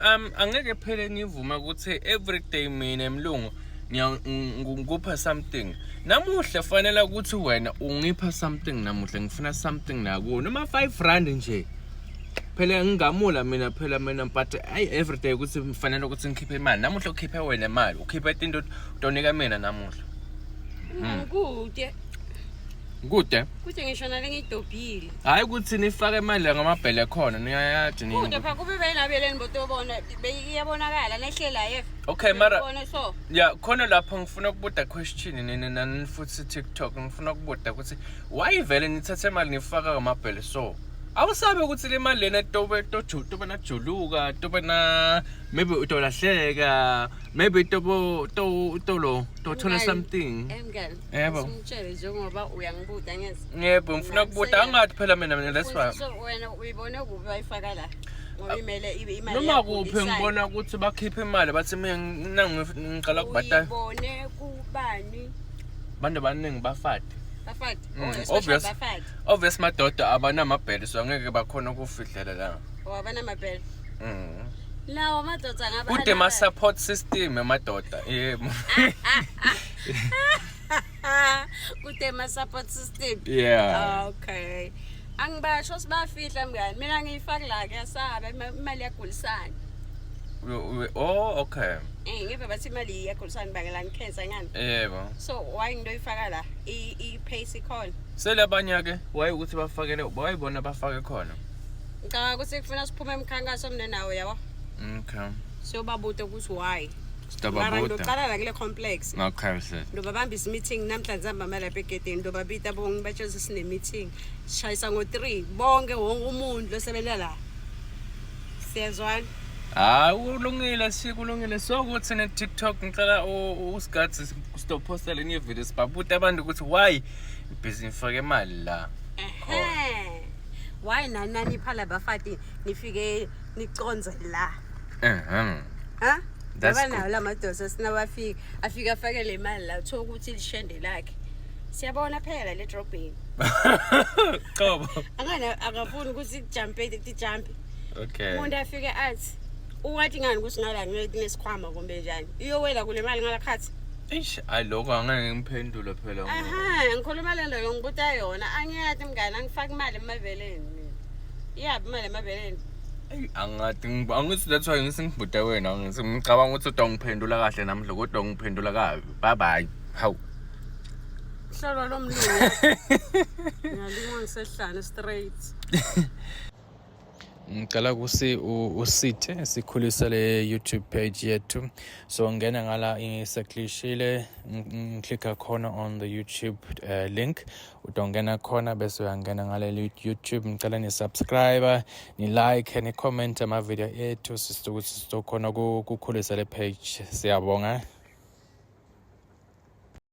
um angeke phele ngivume ukuthi everyday mina emlungu ngikupha something namuhla fanele ukuthi wena ungipha something namuhla ngifuna something nakuwe noma 5 rand nje phela ngingamula mina phela mina but ayi everyday ukuthi mfanele ukuthi ngikhiphe imali namuhla ukhiphe wena imali ukhiphe into utonika mina namuhla hmm. kude kude kude ngisho nale ngidobhile hayi ukuthi nifake imali ngamabhele khona niyayathi nini kude pha kube bayinabeleni botobona iyabonakala nehlela yef okay mara so ya khona lapho ngifuna ukubuda question nini nani futhi TikTok ngifuna ukubuda ukuthi why vele nithathe imali nifaka ngamabhele so awusabe ukuthi le mali lena tobe tobe najuluka tobe na maybe utolahleka maybe tobo to tolo tothola something emngane yebo simtshele njengoba uyangibuda ngezi yebo ngifuna kubuda angathi phela mina mina that's why so wena uyibone kuphi wayifaka la ngoyimele ibe imali noma kuphi ngibona ukuthi bakhipha imali bathi mina nangu ngiqala kubhatala uyibone kubani abantu abaningi bafade bafade mm, oh, obvious obvious madoda abanamabhele so angeke bakhona ukufihlela la oh, abanamabhele mhm lawo madoda ngaba kude ma support system emadoda yebo kude ma support system yeah okay angibasho sibafihla mngani mina ngiyifaki la kuyasaba imali yagulisana oh okay eh ngeve bathi imali iyagulisana bakela ngikhensa ngani yebo so why ngidoyifaka la i pace ikhona selabanye ke why ukuthi bafakele why bona bafake khona ngicabanga ukuthi kufuna siphume emkhankaso mina nawe yabo okay so babude ukuthi why Mara ngizoqala la kule complex. Okay sir. Ndobabambisa meeting namhlanje sambama lapha egedeni ndobabita bonke batshela ukuthi sine meeting. Sishayisa ngo 3 bonke wonke umuntu losebenza la. Siyazwana. Hayi kulungile sikulungile so kuthi ne TikTok ngicela usigathi stop posta le new video sibabuta abantu ukuthi why ibhizinisi fake imali la. Ehe. Why nanani phala bafati nifike niconze la Ehhe. ha That's ngoba good. nawo la madosa sinabafika afike afake le mali la uthola ukuthi lishende lakhe siyabona phela la le drobheni Qobo. angana akafuni ukuthi tijampe tijampe Okay. umuntu afike athi uwathi ngani ukuthi ngala ngeke nesikhwama kumbe njani iyowela kule mali ngala khathi Eish, ay lokho angeke ngiphendule phela. ngoba- aha ngikhuluma le nto yongibuta yona angiyati mngane angifaki imali emaveleni mina Iyaphi imali emabeleni? Eyi, angathi ngib- angithi that's why ngithi ngibhuda wena ngithi ngicabanga ukuthi uda ngiphendula kahle namhla kodwa ngiphendula kabi bye bye hawu Hlolwa lo mlungu. Ngiyalingwa ngisehlane straight. ngicela kusi u- usithe sikhulise le youtube page yethu so ngena ngala ngiseklishile ngiklikha khona on the youtube uh, link utongena khona bese uyangena ngaleli youtube ngicela nisubscribe nilike nicommente amavidiyo ethu sisukuthi sizokhona ukukhulisa le page siyabonga